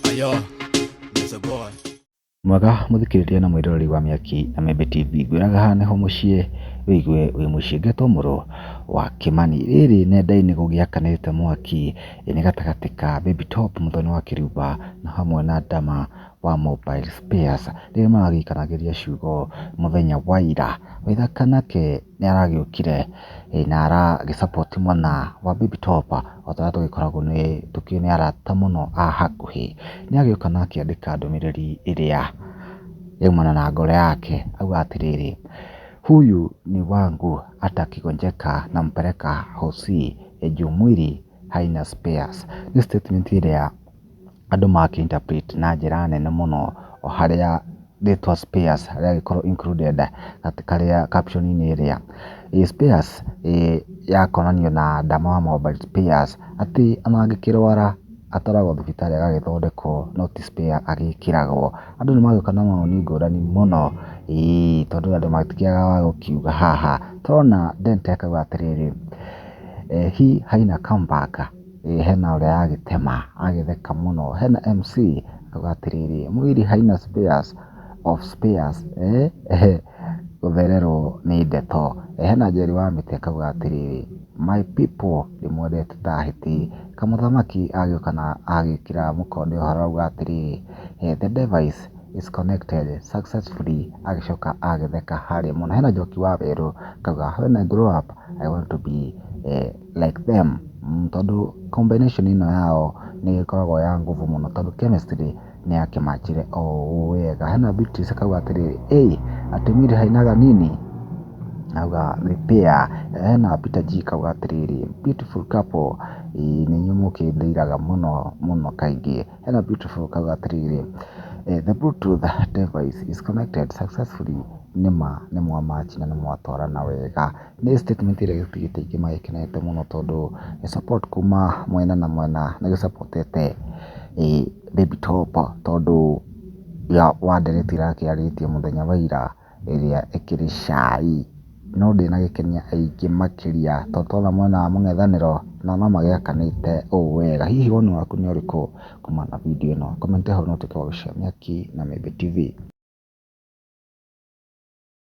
Ayo, there's a boy. Mwega mũthikĩrĩria na mwĩroreri wa Mĩaki na Membe TV, ngwĩraga haha nĩho mũciĩ wĩigue wĩ mũciĩ ngetwo mũrũ wa Kĩmani. Rĩrĩ nenda-inĩ gũgĩakanĩte mwaki, ĩ nĩ gatagatĩ ka Baby Top mũthoni wa Kĩriuba na hamwe na Dama wa Mobile Spares, rĩrĩa maragĩikanagĩria ciugo mũthenya wa ira. Waithaka nake nĩ aragĩũkire na aragĩ support mwena wa Baby Top o ta ũrĩa tũgĩkoragwo tũkĩrĩ na arata mũno a hakuhĩ. Nĩ agĩũka na akĩandĩka ndũmĩrĩri ĩrĩa yaumana na ngoro yake auga atĩrĩrĩ, Huyu ni wangu hata akigonjeka nampeleka Hosi juu mwili haina spares. Nĩ statement ĩrĩa... andũ maki interpret na njĩra nene mũno o harĩa rĩtwa spares rĩagĩkorwo included karĩa caption -inĩ ĩrĩa. Spares yakonanio na ndama wa mobile spares atĩ ona angĩkĩrwara atwaragwo thibitarĩ agagĩthondekwo no ti spare agĩkĩragwo. Andũ nĩ magĩũka na mawoni ngũrani mũno ĩĩ tondũ andũ matikĩagaga wa gũkiuga haha. Tũrona Dante akauga atĩrĩrĩ, he haina come back. Hena ũrĩa agĩtema agĩtheka mũno, hena MC auga atĩrĩrĩ, mwili haina spares of spares eeh gũthererwo nĩ ndeto. Hena Njeri wa mĩtĩ akauga atĩrĩrĩ, my people ndĩmwendete ta hiti. Kamũthamaki agĩũka na agĩkĩra mũkonde ũhoro auga atĩrĩrĩ, the device is connected successfully agĩcoka agĩtheka harĩa mũno. Hena Njoki wa werũ akauga when I grow up I want to be a like them tondũ combination ĩno yao nĩ ĩkoragwo ya nguvu mũno tondũ chemistry nĩ ya kĩmanjĩre o ũũ wega. Hena Beatrice akauga atĩrĩrĩ, hey atumiri hainaga nini akauga nĩ pair. Hena Peter G akauga atĩrĩrĩ, beautiful couple nĩ inyuĩ mũkĩndĩiraga mũno mũno kaingĩ. Hena beautiful akauga atĩrĩrĩ, the bluetooth device is connected successfully nĩ ma nĩ mwa match na nĩ mwatwarana wega. Nĩ statement ĩrĩa gĩbiriti aingĩ magĩkenete mũno tondũ nĩ support kuma mwena na mwena nĩ gĩ support ĩte Baby Top tondũ ya wa ndereti yake arĩtie mũthenya wa ira ĩrĩa ĩkĩrĩ cai. No ndĩnagĩkenia aingĩ makĩria tondũ twona mwena wa mũng'ethanĩro nao no magĩakanĩte ũũ wega. Hihi woni waku nĩ ũrĩkũ kumana na video ĩno? Comment hau na ũtuĩke wa gũcenjia nĩkĩ na Mĩĩmbĩ TV.